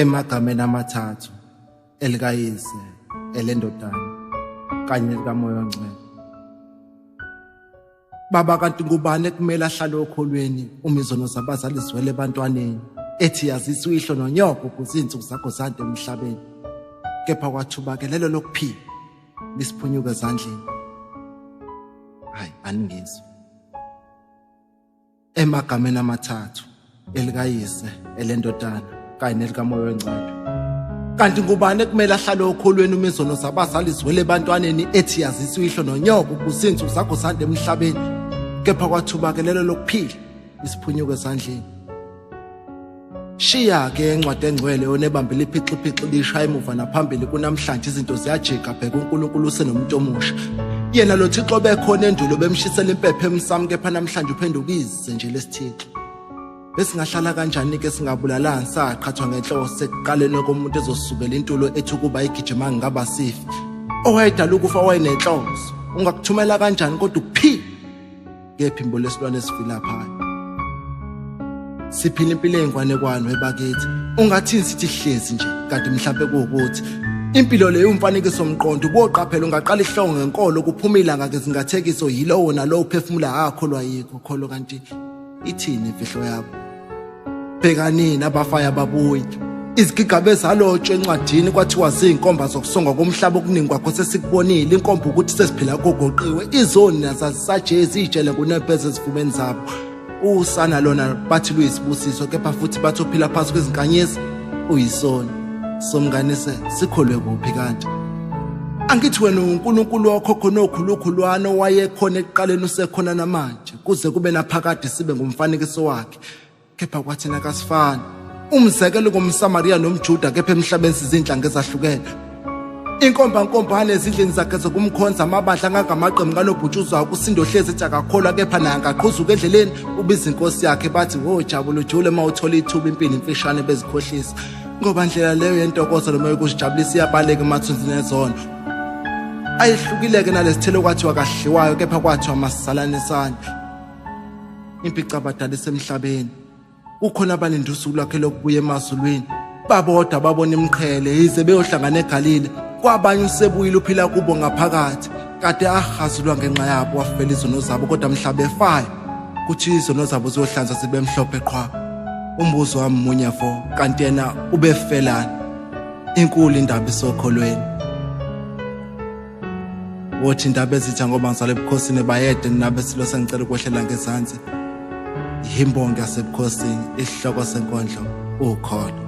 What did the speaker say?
emagameni amathathu elikayise elendodana kanye likamoya ongcwele Baba kanti ngubani ekumele ahlale okholweni uma izono zabazali ziwele ebantwaneni ethi yazisa uyihlo nonyoko ukuze izinsuku zakho zande emhlabeni kepha kwathuba ke lelo lokuphila lisiphunyuka ezandleni hayi aningizwa emagameni amathathu elikayise elendodana kanye nelikamoya wengcwele kanti ngubani ekumele ahlale okholweni uma izono zabazali ziwele ebantwaneni ethi yazisa uyihlo nonyoko kuzinsuku zakho sande emhlabeni kepha kwathubakelelo lokuphila isiphunyuko ezandleni Shiya-ke encwadi engcwele onebambe liphixiphixi lishaya emuva naphambili kunamhlanje izinto ziyajika bheka uNkulunkulu usenomuntu omusha. Yena lo Thixo bekhona endulo bemshisela impepho emsami kepha namhlanje uphenduka ize nje lesithixo. Besingahlala kanjani ke singabulalani saqhathwa ngenhloso sekuqaleni komuntu ezosukela intulo ethi ukuba igijima ngingaba sifi. Owayedala ukufa wayenenhloso. Ungakuthumela kanjani kodwa ukuphi? kephi imbo lesilwane esifilaphayo siphila impilo ey'ngwanekwano ebakithi ungathini sithi hlezi nje kanti mhlawumpe kuwukuthi impilo leyo umfanekiso mqondo uboqaphela ungaqala ihlongo ngenkolo kuphuma ilanga ngezingathekiso yilowo nalowo uphefumula akholwa yikho kholo kanti ithini imfihlo yakho bhekanini abafaya ababuyi izigigabe ezalotshwa encwadini kwathiwa ziyinkomba zokusongwa komhlaba okuningi kwakho sesikubonile inkomba ukuthi sesiphila kogoqiwe izoni nazazisaje eziyitshele ngunempeza ezifumeni zabo usana lona bathi luyisibusiso kepha futhi bathi ophila phansi kwezinkanyezi uyisoni somnganise sikholwe kuphi kanti angithi wena uNkulunkulu wakho khona okhulukhulwana owayekhona ekuqaleni usekhona namanje kuze kube naphakade sibe ngumfanekiso wakhe kepha kwathina kasifani umzekelo ngomsamariya nomjuda kepha emhlabeni sizinhlanga ezahlukene inkombankombane ezindlini zakhe zokumkhonza amabandla angangamaqembu kanobhutshuzwayo kusindo hlezi ethi akakholwa kepha naye angaqhuzuka endleleni ubiza inkosi yakhe bathi wo jabula ujule uma uthola ithuba impini imfishane bezikhohlisa ngoba ndlela leyo yentokozo noma yokusijabulisa iyabaleka emathunzini ezono ayehlukileke nalesithelo kwathiwa kahliwayo kepha kwathiwa masalanisane impica abadala isemhlabeni kukhona abalinde usuku lwakhe lokubuya emazulwini babodwa babona imqhele yize beyohlangana egalile kwabanye usebuyile uphila kubo ngaphakathi kade ahazulwa ngenxa yabo wafela izono zabo kodwa mhlaba efayo kuthi izono zabo ziyohlanza zibe mhlophe qhwa umbuzo wami munye fo kanti yena ubefelani inkulu indaba isokholweni wothi indaba ezitha ngoba ngisale ebukhosini bayede ninabe silo sengicela ukwehlela ngezansi yimbongi yasebukhosini isihloko senkondlo ukholo